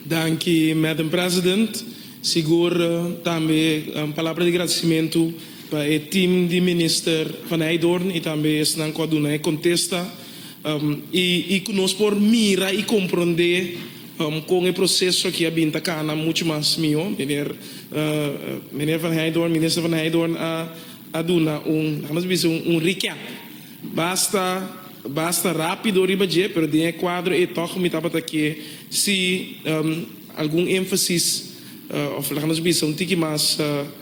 Danki Madam President. Sigur tambe un palabra di gradisimentu pa e team di Minister Van Hijdoorn y tambe esnan cu a duna e contesta y cu nos por mira y compronde con e proceso aki a bin ta cana mucho mas miho. Meneer Van Hijdoorn, Minister Van Hijdoorn a duna un, la'nos bisa un recap. Basta basta rápido riba dje, pero den e kuadro ei tòg mi tabata ke si algun énfasis òf laga nos bisa un tiki mas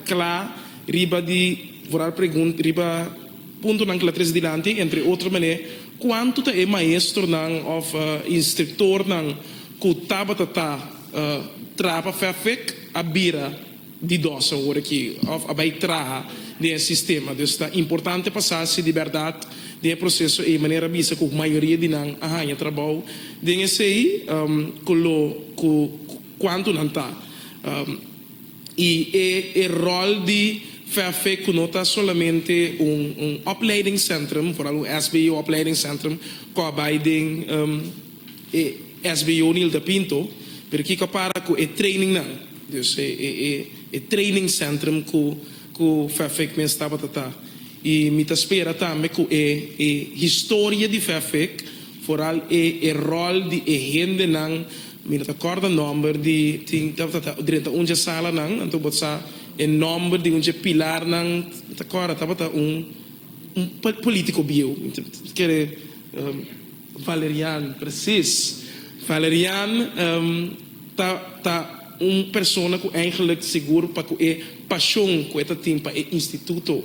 kla riba di voral pregunta riba puntonan ku la tres dilanti, entre otro manera kuantu ta e maestronan òf instriktornan ku tabata ta traba fèfèk a bira. di dòse ora ki òf a bai traha den e sistema. Dus ta importante pa sa si di bèrdat den e proseso ei manera a bisa ku mayoria di nan a haña trabou den esei, ku lo ku kuantu nan ta, i e e ròl di VFV ku no ta solamente un un opleidingsentrum, foral un SBO opleidingsentrum, ku a bai den. E SB Jonilda Pinto, pero kico a para cu e trainingnan? Dus e e e e training centrum cu cu Fefec mes tabata ta. Y mi ta spera tambe cu e e historia di Fefec, vooral e e rol di e hendenan, mi no ta corda nomber di, tin tabata ta drenta un dje salanan, anto bo ta sa e nomber di un dje pilarnan, mi ta corda tabata un un politico bieu, mi ta kere. Valerian, presis. Valerian ta ta un persona ku eigenlijk sigur pa ku e pashon ku e ta tin pa e instituto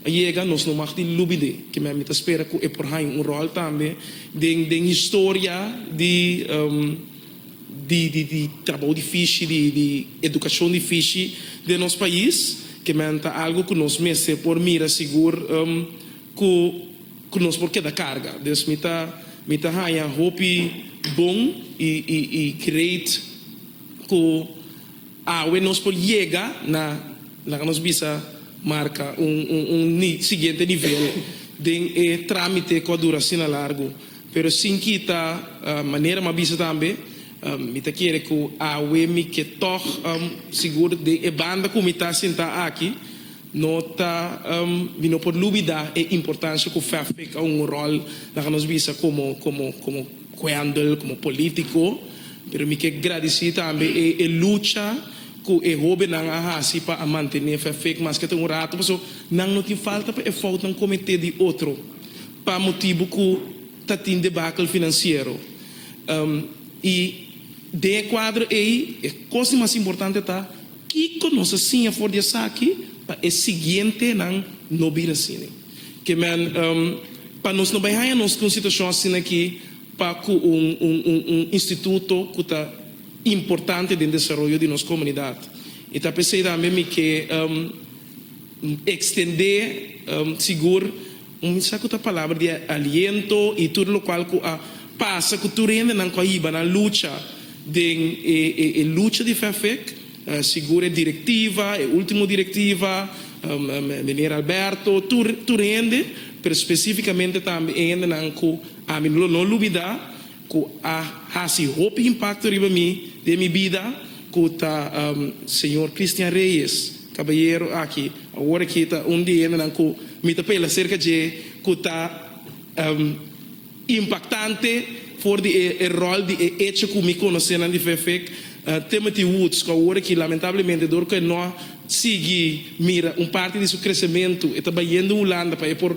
a yega, nos no mag di lubi d'e. Kimen mi ta spera ku e por haña un ròl tambe den den historia di di di di trabou difishi, di di edukashon difishi den nos pais. Kimen ta algu ku nos mester por mira sigur ku. Ku nos por keda karga. Dus mi ta mi ta haña hopi bon i i i great ku awe nos por yega na laga nos bisa marka un un un ni siguiente nivel den e tramite ku a dura asina largu. Pero sin kita manera m'a bisa tambe mi ta kere ku awe mi ke tog sigur den e banda ku mi ta sinta aki No ta di no por lubidá e importansha ku fé fika un ròl na ka nos bisa komo komo komo kuèndel, komo polítiko. Pero mi ke gradisí tambe e e lucha ku e hóbennan a hasi pa a mantené fé fik maske ta un ratu paso nan no tin falta pa e fout nan kometé di otro pa motibu ku ta tin debakel finansiero. I den e kuadro ei e kos di mas importante ta. Kiko nos a siña for di esaki pa e siguientenan no bira asina? Keman pa nos no bai haña nos ku un situashon asina aki pa ku un un instituto ku ta importante den desaroyo di nos komunidat. I ta p'esei tambe mi ke. Extendé sigur un mensahe cu ta palabra di aliento y tur locual cu a pasa cu tur hendenan cu a hiba nan lucha den e lucha di Fefec, sigur e directiva, e ultimo directiva, Meneer Alberto, tur hende, pero specificamente tambe e hendenan cu ami no lo olbida. ku a hasi hopi impakto riba mi den mi bida, ku ta señor Christian Reyes, kabayero aki awor aki ta un di hendenan ku mi ta pela serka dje, ku ta impaktante for di e ròl di e echo ku mi konosenan di Vfec, Timothy Woods, ku awor aki lamentablemente dor ku e no a sigui mira un parti di su kresementu, e ta bayendo Hulanda pa e por.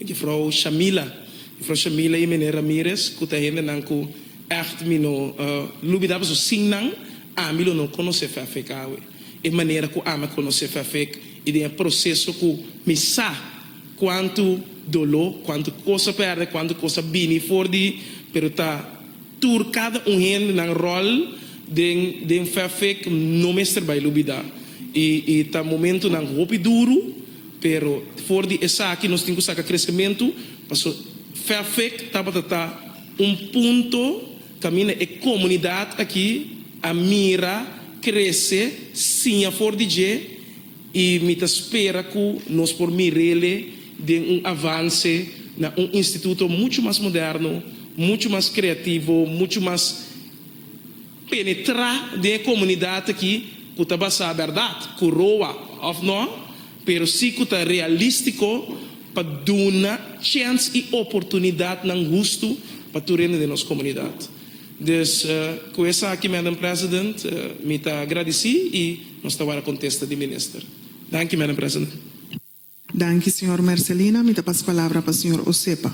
Jufrou Shamila. Jufrou Shamila y Mene Ramirez cu ta hendenan cu echt mi no lubida paso sin nan ami lo no conoce Fefek awe. E manera cu ami a conoce Fefek y den e proceso cu mi sa cuanto dolo, cuanto cos a perde, cuanto cos a bini for di pero ta tur cada un hendenan rol den den Fefek no mester bay lubida y y ta momentonan hopi duro. Pero for di esaki nos tin ku saka kresementu paso Fafec tabata ta un punto kaminda e komunidat aki a mira krese siña for di dje i mi ta spera ku nos por mir'ele den un avanse na un instituto muchu mas moderno, muchu mas kreativo, muchu mas. penetrá den e komunidat aki ku ta basá bèrdat, ku roa òf nò, pero si ku ta realístiko pa duna chèns i oportunidatnan hustu pa tur hende den nos komunidat. Dus, ku esaki, Madam President, mi ta agradisí i nos ta wòrdu kontesta di Minister. Danki, Madam President. Danki, señor Mercelina. Mi ta pas palabra pa señor Osepa.